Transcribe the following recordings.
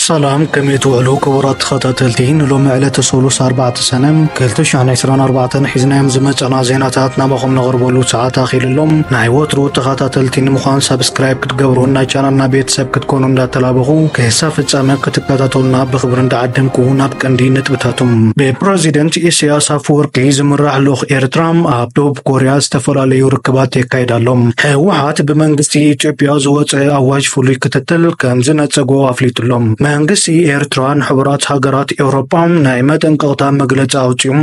ሰላም ከመይ ትውዕሉ ክቡራት ተኸታተልቲ ንሎሚ ዕለተ ሰሉስ 4 ሰነ 224 ሒዝናዮም ዝመፀና ዜናታት ናባኹም ነቕርበሉ ሰዓት ኣኺልሎም ናይ ወትሩ ተኸታተልቲ ንምዃን ሰብስክራይብ ክትገብሩን ናይ ቻናልና ቤተሰብ ክትኮኑ እንዳተላበኹ ክሳብ ፍፃመ ክትከታተሉና ብክብሪ እንዳዓደምኩ ናብ ቀንዲ ነጥብታቶም ብፕረዚደንት ኢሳያስ ኣፈወርቂ ዝምራሕ ልኡኽ ኤርትራ ኣብ ደቡብ ኮርያ ዝተፈላለዩ ርክባት የካይድ ኣሎ። ህወሓት ብመንግስቲ ኢትዮጵያ ዝወፀ ኣዋጅ ፍሉይ ክትትል ከም ዝነፀጎ ኣፍሊጡ ኣሎ። መንግስቲ ኤርትራ ንሕቡራት ሃገራት ኤውሮጳ ናይ መጠንቀቕታ መግለፂ ኣውፂኡ።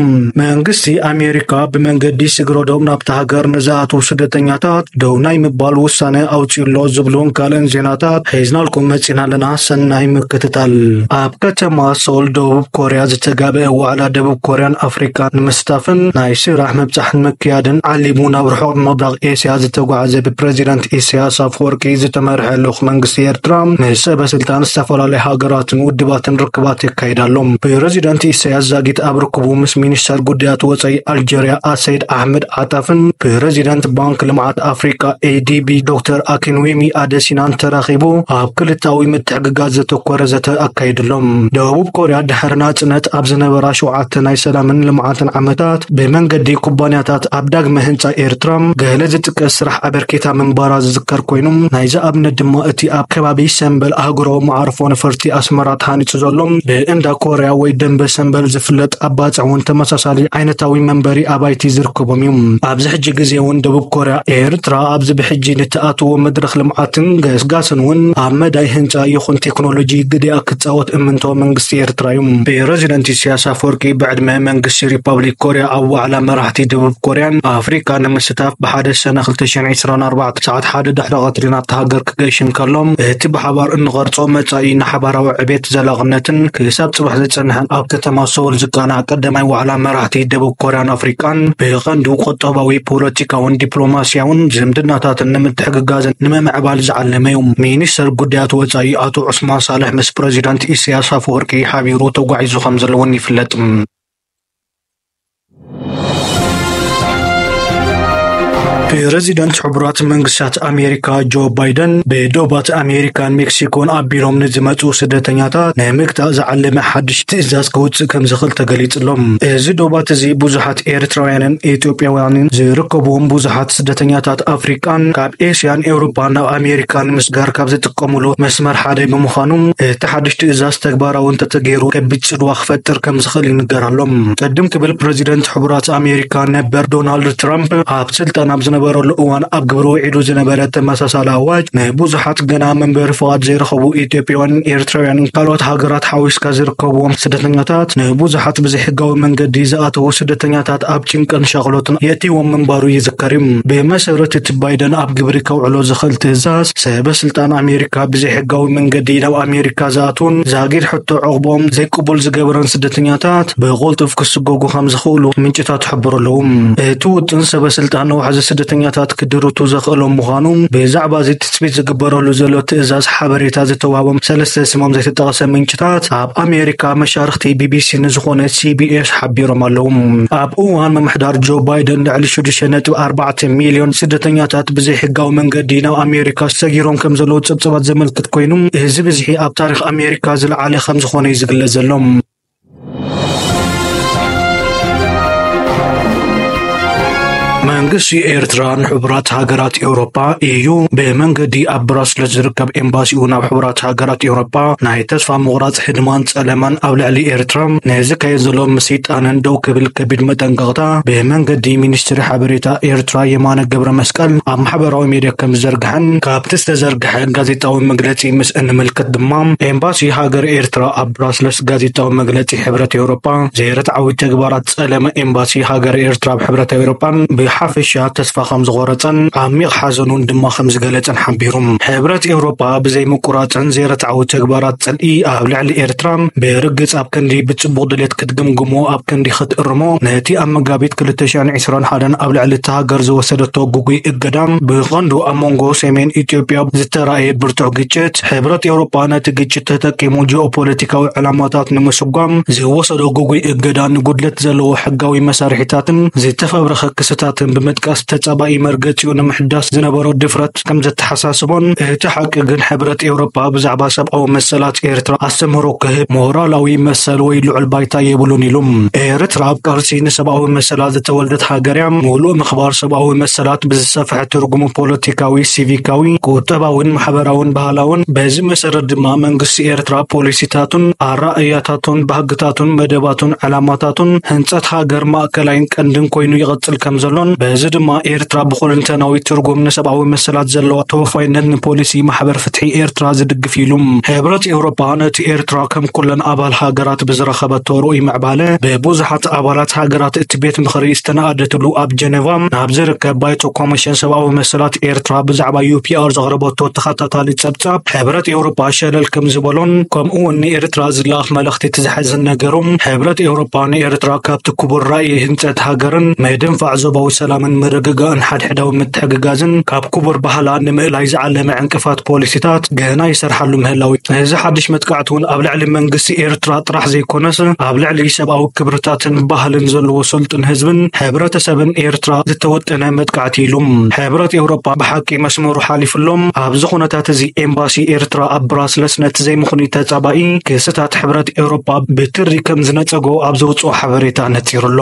መንግስቲ ኣሜሪካ ብመንገዲ ስግረዶብ ናብታ ሃገር ንዝኣትዉ ስደተኛታት ደው ናይ ምባል ውሳነ ኣውፂኡ ኣሎ ዝብሉን ካልእን ዜናታት ሒዝናልኩም መፂና ኣለና። ሰናይ ምክትታል! ኣብ ከተማ ሶል ደቡብ ኮርያ ዝተጋበአ ዋዕላ ደቡብ ኮርያን ኣፍሪቃን ንምስታፍን ናይ ስራሕ ምብጻሕን ምክያድን ዓሊሙ ናብ ርሑቕ ምብራቕ ኤስያ ዝተጓዕዘ ብፕረዚደንት ኢሳያስ ኣፈወርቂ ዝተመርሐ ልኡኽ መንግስቲ ኤርትራ ምስ ሰበ ስልጣን ዝተፈላለዩ ሃገራትን ውድባትን ርክባት የካይድ ኣሎ። ፕረዚደንት ኢሳያስ ዛጊት ኣብ ርክቡ ምስ ሚኒስተር ጉዳያት ወጻኢ ኣልጀርያ ኣሰይድ ኣሕመድ ሓታፍን ፕረዚደንት ባንክ ልምዓት ኣፍሪቃ ኤዲቢ ዶክተር ኣኪንዌሚ ኣደሲናን ተራኺቡ ኣብ ክልታዊ ምትሕግጋዝ ዘተኮረ ዘተ ኣካይድሎም። ደቡብ ኮርያ ድሕሪ ናጽነት ኣብ ዝነበራ ሸውዓተ ናይ ሰላምን ልምዓትን ዓመታት ብመንገዲ ኩባንያታት ኣብ ዳግመ ህንጻ ኤርትራ ገለ ዝጥቀስ ስራሕ ኣበርኪታ ምንባራ ዝዝከር ኮይኑ ናይዚ ኣብነት ድማ እቲ ኣብ ከባቢ ሰምበል ኣህጉራዊ መዓርፎ ነፈርቲ ኣስመራ ተሃኒጹ ዘሎ ብእንዳ ኮርያ ወይ ደምበ ሰምበል ዝፍለጥ ኣባጽዕ እውን ተመሳሳሊ ዓይነታዊ መንበሪ ኣባይቲ ዝርከቦም እዩ። ኣብዚ ሕጂ ግዜ እውን ደቡብ ኮርያ፣ ኤርትራ ኣብዚ ብሕጂ ንትኣትዎ መድረኽ ልምዓትን ገስጋስን እውን ኣብ መዳይ ህንጻ ይኹን ቴክኖሎጂ ግዴኣ ክጻወት እምንቶ መንግስቲ ኤርትራ እዩ። ፕረዚደንት ኢሳያስ ኣፍወርቂ ብዕድመ መንግስቲ ሪፓብሊክ ኮርያ ኣብ ዋዕላ መራሕቲ ደቡብ ኮርያን ኣፍሪቃን ንምስታፍ ብሓደ ሰነ ክልተ ሽሕን ዒስራን ኣርባዕተ ሰዓት ሓደ ድሕሪ ቀትሪ ናብታ ሃገር ክገይሽ እንከሎ እቲ ብሓባር እንቐርጾ መጻኢ ንሓባራዊ ዕቤት ዘላቕነትን ክሳብ ጽባሕ ዝጸንሐ ኣብ ከተማ ሰውል ዝቃናዕ ቀዳማይ ዋዕላ መራሕቲ ደቡብ ኮርያን ኣፍሪቃን ብቐንዱ ቁጠባዊ፣ ፖለቲካውን ዲፕሎማስያውን ዝምድናታትን ንምትሕግጋዝን ንምምዕባል ዝዓለመ እዩ። ሚኒስተር ጉዳያት ወጻኢ ኣቶ ዑስማን ሳልሕ ምስ ፕረዚደንት ኢሳያስ ኣፈወርቂ ሓቢሩ ተጓዒዙ ከምዘሎ'ውን ይፍለጥ። ፕረዚደንት ሕቡራት መንግስታት ኣሜሪካ ጆ ባይደን ብዶባት ኣሜሪካን ሜክሲኮን ኣቢሎም ንዝመፁ ስደተኛታት ንምግታእ ዝዓለመ ሓድሽ ትእዛዝ ክውፅእ ከም ዝኽእል ተገሊፅሎም። እዚ ዶባት እዚ ብዙሓት ኤርትራውያንን ኢትዮጵያውያንን ዝርከብዎም ብዙሓት ስደተኛታት ኣፍሪቃን ካብ ኤስያን ኤውሮፓን ናብ ኣሜሪካ ንምስጋር ካብ ዝጥቀሙሉ መስመር ሓደ ብምዃኑ እቲ ሓድሽ ትእዛዝ ተግባራዊ እንተተገይሩ ከቢድ ጽልዋ ክፈጥር ከም ዝኽእል ይንገር ኣሎ። ቅድም ክብል ፕረዚደንት ሕቡራት ኣሜሪካ ነበር ዶናልድ ትራምፕ ኣብ ስልጣን ኣብ ዝነበረሉ እዋን ኣብ ግብሪ ውዒሉ ዝነበረ ተመሳሳሊ ኣዋጅ ንብዙሓት ገና መንበሪ ፍቓድ ዘይረኸቡ ኢትዮጵያውያን፣ ኤርትራውያንን ካልኦት ሃገራት ሓዊስካ ዝርከብዎም ስደተኛታት ንብዙሓት ብዘይሕጋዊ መንገዲ ዝኣተዉ ስደተኛታት ኣብ ጭንቅን ሻቕሎትን የእትይዎም ምንባሩ ይዝከር እዩ። ብመሰረት እቲ ባይደን ኣብ ግብሪ ከውዕሎ ዝኽእል ትእዛዝ፣ ሰበ ስልጣን ኣሜሪካ ብዘይሕጋዊ መንገዲ ናብ ኣሜሪካ ዝኣትዉን ዛጊድ ሕቶ ዑቕባኦም ዘይቅቡል ዝገበረን ስደተኛታት ብቕልጡፍ ክስጎጉ ከምዝኽእሉ ምንጭታት ይሕብሩ ኣለዉ። እቲ ውጥን ሰበ ስልጣን ንዋሕዚ ስደተኛታት ክድርቱ ዘኽእሎም ምዃኑ ብዛዕባ እዚ ትጽቢት ዝግበረሉ ዘሎ ትእዛዝ ሓበሬታ ዝተዋህቦም ሰለስተ ስሞም ዘይተጠቕሰ ምንጭታት ኣብ ኣሜሪካ መሻርኽቲ ቢቢሲ ንዝኾነ ሲቢኤስ ሓቢሮም ኣለዉ። ኣብ እዋን ምምሕዳር ጆ ባይደን ልዕሊ ሽዱሽተ ነጥቢ ኣርባዕተ ሚልዮን ስደተኛታት ብዘይሕጋዊ መንገዲ ናብ ኣሜሪካ ሰጊሮም ከም ዘለዉ ጸብጻባት ዘመልክት ኮይኑ፣ እዚ ብዝሒ ኣብ ታሪኽ ኣሜሪካ ዝለዓለ ከም ዝኾነ እዩ ዝግለጽ ዘሎ። መንግስቲ ኤርትራ ንሕቡራት ሃገራት ኤውሮፓ ኢዩ ብመንገዲ ኣብ ብራስለስ ዝርከብ ኤምባሲኡ ናብ ሕቡራት ሃገራት ኤውሮፓ ናይ ተስፋ ምቑራጽ ህድማን ጸለመን ኣብ ልዕሊ ኤርትራ ናይ ዝካየድ ዘሎ ምስይጣንን ደው ክብል ከቢድ መጠንቀቕታ ብመንገዲ ሚኒስትሪ ሓበሬታ ኤርትራ የማነ ገብረመስቀል ኣብ ማሕበራዊ ሜድያ ከም ዝዘርግሐን ካብቲ ዝተዘርግሐ ጋዜጣዊ መግለጺ ምስ እንምልከት ድማ ኤምባሲ ሃገር ኤርትራ ኣብ ብራስለስ ጋዜጣዊ መግለጺ ሕብረት ኤውሮጳ ዘይርትዓዊ ተግባራት ጸለመ ኤምባሲ ሃገረ ኤርትራ ኣብ ሕብረት ኣውሮጳን ብሓፈሻ ተስፋ ከም ዝቖረጸን ዓሚቕ ሓዘኑን ድማ ከም ዝገለጸን ሓቢሩ። ሕብረት ኤውሮጳ ብዘይምቁራጽን ዘይርትዓዊ ተግባራት ጽልኢ ኣብ ልዕሊ ኤርትራ ብርግጽ ኣብ ክንዲ ብጽቡቕ ድሌት ክትግምግሞ ኣብ ክንዲ ክትእርሞ ነቲ ኣብ መጋቢት ክልተ ሽሕን ዕስራን ሓደን ኣብ ልዕሊ እታ ሃገር ዝወሰደቶ ግጉይ እገዳ ብቐንዱ ኣብ መንጎ ሰሜን ኢትዮጵያ ዝተራእየ ብርቱዕ ግጭት ሕብረት ኤውሮጳ ነቲ ግጭት ተጠቂሙ ጂኦፖለቲካዊ ዕላማታት ንምስጓም ዝወሰዶ ጉጉይ እገዳ ንጉድለት ዘለዎ ሕጋዊ መሳርሒታትን ዝተፈብረኸ ክስታትን ብምጥቃስ ተጻባኢ መርገጺኡ ንምሕዳስ ዝነበሮ ድፍረት ከም ዘተሓሳስቦን እቲ ሓቂ ግን ሕብረት ኤውሮጳ ብዛዕባ ሰብኣዊ መሰላት ኤርትራ ኣስተምህሮ ክህብ ሞራላዊ መሰል ወይ ልዑል ባይታ የብሉን ኢሉ። ኤርትራ ኣብ ቃልሲ ንሰብኣዊ መሰላት ዝተወልደት ሃገር እያ። ምሉእ ምኽባር ሰብኣዊ መሰላት ብዝሰፍሐ ትርጉሙ ፖለቲካዊ፣ ሲቪካዊ፣ ቁጠባዊን ማሕበራውን ባህላውን፣ በዚ መሰረት ድማ መንግስቲ ኤርትራ ፖሊሲታቱን ኣረኣእያታቱን ባህግታቱን መደባቱን ዕላማታቱን ህንጸት ሃገር ማእከላይን ቀንድን ኮይኑ ይቕጽል ከምዘሎን በዚ ድማ ኤርትራ ብኹልንተናዊ ትርጉም ንሰብኣዊ መሰላት ዘለዋ ተወፋይነት ንፖሊሲ ማሕበር ፍትሒ ኤርትራ ዝድግፍ እዩ ኢሉ። ሕብረት ኤውሮጳ ነቲ ኤርትራ ከም ኩለን ኣባል ሃገራት ብዝረኸበቶ ርኡይ ምዕባለ ብብዙሓት ኣባላት ሃገራት ኣባላት ቤት ምኽሪ ዝተነኣደትሉ ኣብ ጀነቫ ናብ ዝርከብ ባይቶ ኮሚሽን ሰብኣዊ መሰላት ኤርትራ ብዛዕባ ዩፒኣር ዘቕረበቶ ተኸታታሊ ጸብጻብ ሕብረት ኤውሮጳ ሸለል ከም ዝበሎን ከምኡውን ንኤርትራ ዝለኣኽ መልእኽቲ እቲ ዝሐዝን ነገሩ ሕብረት ኤውሮጳ ንኤርትራ ካብቲ ክቡር ራእይ ህንጸት ሃገርን ምድንፋዕ ዞባዊ ሰላምን ምርግጋእን ሓድሕዳዊ ምትሕግጋዝን ካብ ክቡር ባህላ ንምእላይ ዝዓለመ ዕንቅፋት ፖሊሲታት ገና ይሰርሓሉ ምህላው እዚ ሓድሽ መጥቃዕቲ እውን ኣብ ልዕሊ መንግስቲ ኤርትራ ጥራሕ ዘይኮነስ ኣብ ልዕሊ ሰብኣዊ ክብርታትን ባህልን ዘለዎ ሰልጡን ህዝብን ሕብረተሰብን ኤርትራ ዝተወጠነ መጥቃዕቲ ኢሉ። ሕብረት ኤውሮጳ ብሓቂ መስመሩ ሓሊፉ ኣሎ። ኣብዚ ኩነታት እዚ ኤምባሲ ኤርትራ ኣብ ብራስለስ ነቲ ዘይምኽኑይ ተጻባኢ ክስታት ሕብረት ኤውሮጳ ብትሪ ከም ዝነጸጎ ኣብ ዘውጽኦ ሓበሬታ ነጺሩ ኣሎ።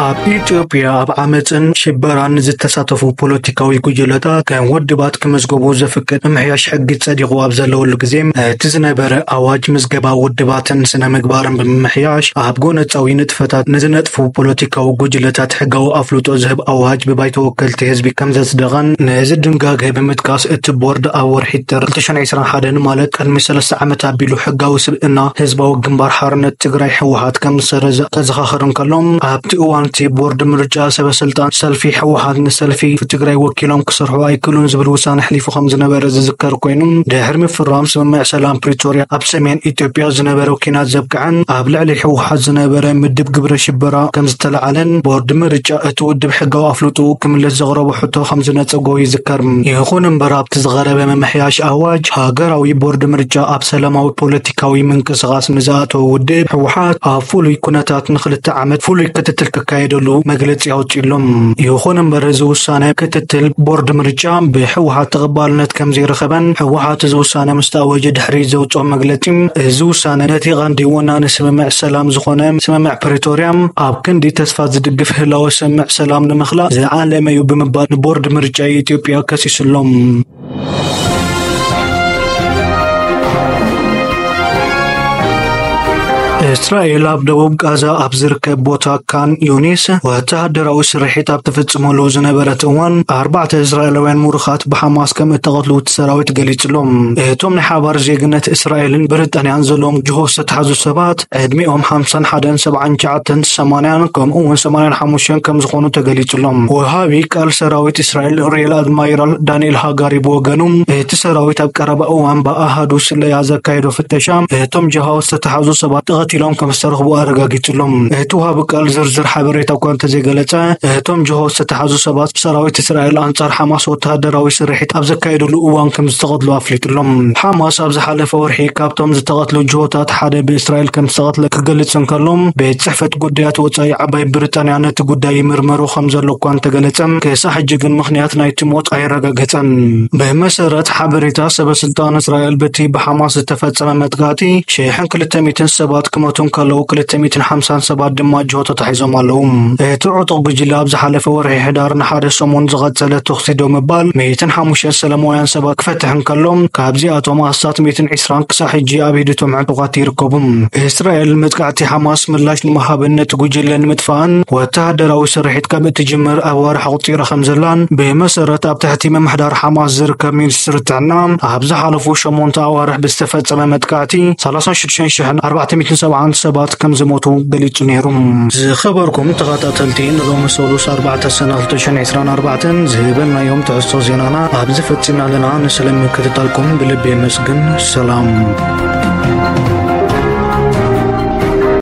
ኣብ ኢትዮጵያ ኣብ ዓመፅን ሽበራን ዝተሳተፉ ፖለቲካዊ ጉጅለታት ከም ወድባት ክመዝገቡ ዘፍቅድ ምምሕያሽ ሕጊ ጸዲቑ ኣብ ዘለወሉ ግዜ እቲ ዝነበረ ኣዋጅ ምዝገባ ውድባትን ስነ ምግባርን ብምምሕያሽ ኣብ ጎነፃዊ ንጥፈታት ንዝነጥፉ ፖለቲካዊ ጉጅለታት ሕጋዊ ኣፍልጦ ዝህብ ኣዋጅ ብባይቶ ወከልቲ ህዝቢ ከም ዘጽደቐን ነዚ ድንጋገ ብምጥቃስ እቲ ቦርድ ኣብ ወርሒ ጥር 2021 ማለት ቅድሚ ሰለስተ ዓመት ኣቢሉ ሕጋዊ ስብእና ህዝባዊ ግንባር ሓርነት ትግራይ፣ ህወሓት፣ ከም ዝሰረዘ ከዘኻኽር እንከሎ፣ ኣብቲ እዋን'ቲ ቦርድ ምርጫ ሰበ-ስልጣን ሰልፊ ህወሓት ንሰልፊ ትግራይ ወኪሎም ክሰርሑ ኣይክእሉን ዝብል ውሳነ ኣሕሊፉ ከም ዝነበረ ዝዝከር ኮይኑ፣ ድሕሪ ምፍራም ስምምዕ ሰላም ፕሪቶርያ ኣብ ሰሜን ኢትዮጵያ ዝነበረ ኲናት ዘብቅዐን ኣብ ልዕሊ ህወሓት ዝነበረ ምድብ ግብረ ሽበራ ከም ዝተላዕለን ቦርድ ምርጫ እቲ ውድብ ሕጋዊ ኣፍልጦኡ ክምልስ ዘቕረቦ ሕቶ ከም ዝነጸጎ ይዝከር። ይኹን እምበር ኣብቲ ዝቐረበ ምምሕያሽ ኣዋጅ፣ ሃገራዊ ቦርድ ምርጫ ኣብ ሰላማዊ ፖለቲካዊ ምንቅስቓስ ንዝኣተወ ውድብ ህወሓት ኣብ ፍሉይ ኩነታት ንክልተ ዓመት ፍሉይ ክትትል ክካየደሉ መግለፂ ኣውፂኡሎም። ይኹን እምበር እዚ ውሳነ ክትትል ቦርድ ምርጫ ብህወሓት ተቐባልነት ከምዘይረኸበን ህወሓት እዚ ውሳነ ምስተኣወጀ ድሕሪ ዘውፅኦ መግለፂ እዚ ውሳነ ነቲ ቐንዲ ወናኒ ስምምዕ ሰላም ዝኾነ ስምምዕ ፕሪቶርያ ኣብ ክንዲ ተስፋ ዝድግፍ ህላወ ስምምዕ ሰላም ንምኽላእ ዝዓለመ ዩ ብምባል ንቦርድ ምርጫ ኢትዮጵያ ከሲሱሎም። እስራኤል ኣብ ደቡብ ጋዛ ኣብ ዝርከብ ቦታ ካን ዩኒስ ወተሃደራዊ ስርሒት ኣብ ትፍጽመሉ ዝነበረት እዋን ኣርባዕተ እስራኤላውያን ምሩኻት ብሓማስ ከም እተቐትሉ እቲ ሰራዊት ገሊጹሎም። እቶም ናይ ሓባር ዜግነት እስራኤልን ብሪጣንያን ዘለዎም ጅሆ ዝተታሕዙ ሰባት ዕድሚኦም ሓምሳን ሓደን ሰብዓን ትሽዓተን ሰማንያን ከምኡውን ሰማንያን ሓሙሽተን ከም ዝኾኑ ተገሊጹሎም። ወሃቢ ቃል ሰራዊት እስራኤል ሪኤል ኣድማይራል ዳንኤል ሃጋሪ ብወገኑ እቲ ሰራዊት ኣብ ቀረባ እዋን ብኣሃዱ ስለያ ዘካየዶ ፍተሻ እቶም ጀሃው ዝተታሕዙ ሰባት ተቐቲሎም ከም ዝተረኽቡ ኣረጋጊጹሎም። እቲ ወሃቢ ቃል ዝርዝር ሓበሬታ እኳ እንተዘይገለጸ እቶም ጀሃው ዝተታሕዙ ሰባት ሰራዊት እስራኤል ኣንጻር ሓማስ ወተሃደራዊ ስርሒት ኣብ ዘካየድሉ እዋን ከም ዝተቐትሉ ኣፍሊጡሎም። ሓማስ ኣብ ዝሓለፈ ወርሒ ካብቶም ዝተቐትሉ ጅሆታት ሓደ ብእስራኤል ከም ዝተቐትለ ክገልጽ እንከሎ፣ ቤት ጽሕፈት ጉዳያት ወጻኢ ዓባይ ብሪጣንያ ነቲ ጉዳይ ይምርመሮ ከም ዘሎ እኳ እንተገለጸ፣ ክሳዕ ሕጂ ግን ምኽንያት ናይቲ ሞት ኣየረጋገጸን። ብመሰረት ሓበሬታ ሰበ ስልጣን እስራኤል፣ በቲ ብሓማስ ዝተፈጸመ መጥቃዕቲ ሽሕን ክልተ ሚእትን ሰባት ክሞቱ እንከለዉ፣ ክልተ ሚእትን ሓምሳን ሰባት ድማ ጅሆ ተታሒዞም ኣለዉ። እቲ ዕጡቕ ጉጅለ ኣብ ዝሓለፈ ወርሒ ሕዳር ንሓደ ሰሙን ዝቐጸለ ተኹሲ ደው ምባል ሚእትን ሓሙሽተን ሰለማውያን ሰባት ክፈትሕ እንከሎ፣ ካብዚኣቶም ኣስታት ሚእትን ዒስራን ክሳዕ ሕጂ ኣብ ኢድ እቶም ዕጡቓት ይርከቡ። እስራኤል መጥቃዕቲ ሓማስ ምላሽ ንምሃብን ነቲ ጉጅለ ንምጥፋእን ወተሃደራዊ ስርሒት ከም እትጅምር ኣዋርሕ ኣቝጺራ ከም ዘላን ብመሰረት ኣብ ትሕቲ ምምሕዳር ሓማስ ዝርከብ ሚኒስትሪ ጥዕና ኣብ ዝሓለፉ ሸሞንተ ኣዋርሕ ብዝተፈጸመ መጥቃዕቲ ሰላሳን ሽዱሽተን ሽሕን ኣርባዕተ ሚእትን ሰብዓን ሰባት ከም ዝሞቱ ገሊጹ ነይሩ። ዝኸበርኩም ተኸታተልቲ ንሎሚ ሰሉስ ኣርባዕተ ሰነ ክልተ ሽሕን ዕስራን ኣርባዕተን ዝህበናዮም ትሕዝቶ ዜናና ኣብዚ ፈጺምና ኣለና። ንስለ ምክትታልኩም ብልቢ የመስግን። ግን ሰላም